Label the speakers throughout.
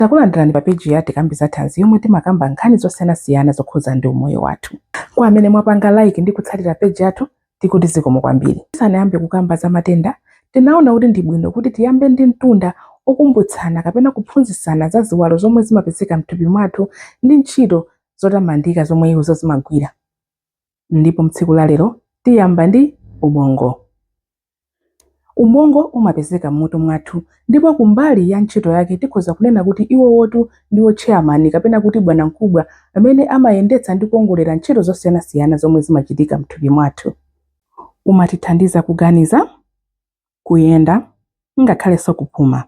Speaker 1: Takulandirani pa page ya Tikambe za Thanzi yomwe timakamba nkhani zosiyanasiyana zokhudza ndi umoyo wathu. Kwa amene mwapanga like ndi kutsatira page yathu, tikuti zikomo kwambiri. Tisanayambe kukamba za matenda, tinaona kuti ndi bwino kuti tiyambe ndi mtunda okumbutsana kapena kuphunzitsana za ziwalo zomwe zimapezeka m'thupi mwathu ndi ntchito zotamandika zomwe izo zimagwira. Ndipo mtsiku la lero tiyamba ndi ubongo. Ubongo umapezeka m'mutu mwathu, ndipo ku mbali ya ntchito yake tikhoza kunena kuti iwowotu ndiwo chairman kapena kuti bwanamkubwa amene amayendetsa ndi kuwongolera ntchito zosiyanasiyana zomwe zimachitika m'thupi mwathu. Umatithandiza kuganiza, kuyenda, ngakhalenso kupuma.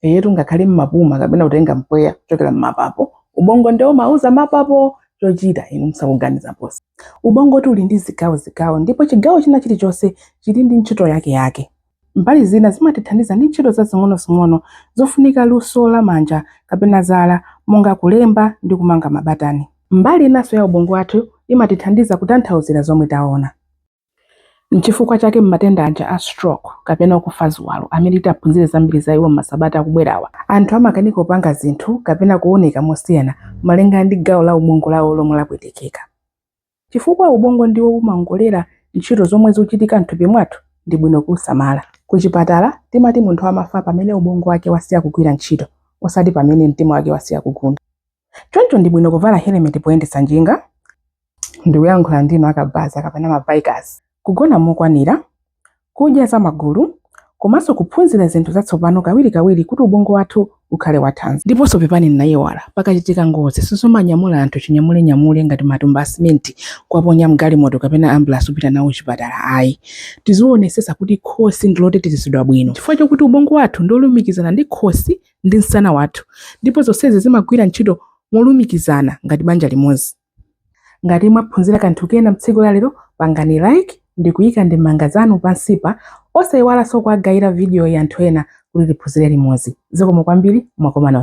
Speaker 1: eyetu ngakhale mumapuma kapena kutenga mpweya kuchokera mmapapo ubongo ndi umauza mapapo chochita inu musakuganiza posi ubongotu uli ndi zigawo zigawo ndipo chigawo china chilichonse chili ndi ntchito yake yake mbali zina zimatithandiza ndi ntchito zazing'onozing'ono zofunika luso la manja kapena zala monga kulemba ndi kumanga mabatani mbali inanso ya ubongo wathu imatithandiza kutanthauzira zomwe taona Nchifukwa chake m'matenda aja a stroke kapena kufa ziwalo amene titaphunzire zambiri za iwo m'masabata akubwerawa, anthu amakanika kupanga zinthu kapena kuoneka mosiyana malingana ndi gawo la ubongo lawo lomwe lapwetekeka. Chifukwa ubongo ndiwo umaongolera ntchito zomwe zikuchitika m'thupi mwathu, ndi bwino kuusamala. Kuchipatala, timati munthu amafa pamene ubongo wake wasiya kugwira ntchito, osati pamene mtima wake wasiya kugunda. Choncho ndi bwino kuvala helemeti poyendetsa njinga. Ndikuyankhula ndinu akabaza kapena ma bikers. Kugona mokwanira, kudya zamagulu, komanso kuphunzira zinthu zatsopano kawirikawiri kuti ubongo wathu ukhale wathanzi. Ndiponso pepani ndinaiwala, pakachitika ngozi sizomanyamula anthu chinyamulenyamule ngati matumba a simenti kuwaponya m'galimoto kapena ambulansi kupita nawo chipatala ayi. Tizionetsetsa kuti khosi ndi lotetezedwa bwino chifukwa chakuti ubongo wathu ndi wolumikizana ndi khosi ndi msana wathu, ndipo zonsezi zimagwira ntchito molumikizana ngati banja limodzi. Ngati mwaphunzira kanthu kena mtsiku la lero, pangani like ndi kuyika ndemanga zanu pansipa, osayiwalanso kuwagayira vidiyoyi anthu ena kuti tiphunzire limodzi. Zikomo kwambiri, mwakomana.